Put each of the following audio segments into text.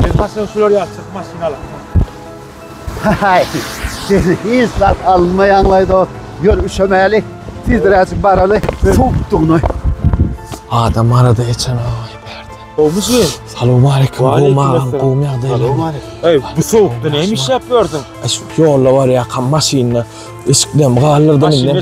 Biz maşyn sürür ýaly çyk maşyn alyp. Haý. Siz hiç zat almaýaňlaý da ýör üşemäli. Tizräjik baraly. Suwukdygyny. Adam arada eçen aý berdi. Gowmyşyn? Salam aleyküm. Gowum agam, gowum ýagdaýlar. Eý, bu sowukda näme işläp ýördüň? Şu ýolda barýarkam maşynda eşiklerimi galdyrdyň indi.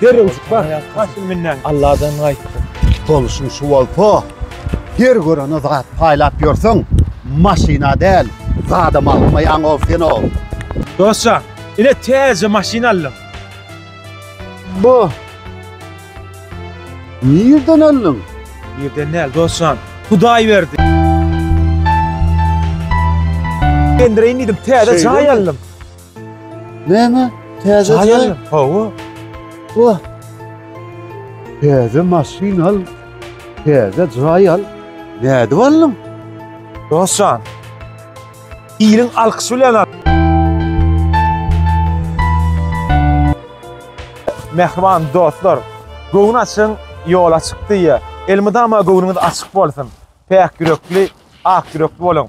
Derrew çykar. Haşym menden. Alladan gaýtdy. Boluşyň şu bolsa, her görene zat paýlap ýörseň, maşyna däl, zada magtmaýaň ow sen ow. Dostjan, ine täze maşyn aldyň. Bo. Nirden aldyň? Nirden däl, dostjan, Hudaý berdi. Endireýin diýdim, täze jaý aldym. Näme? Täze jaý? Jaý hawa. Wah. Täze maşyn al. Täze jaý al. Nädip aldyň? Dostjan. Iliň alkyşy bilen al. Mähriban dostlar, göwün açyň, ýola çykdy. Elmydama göwnüňiz açyk bolsun. Päk ýürekli, ak ýürekli boluň.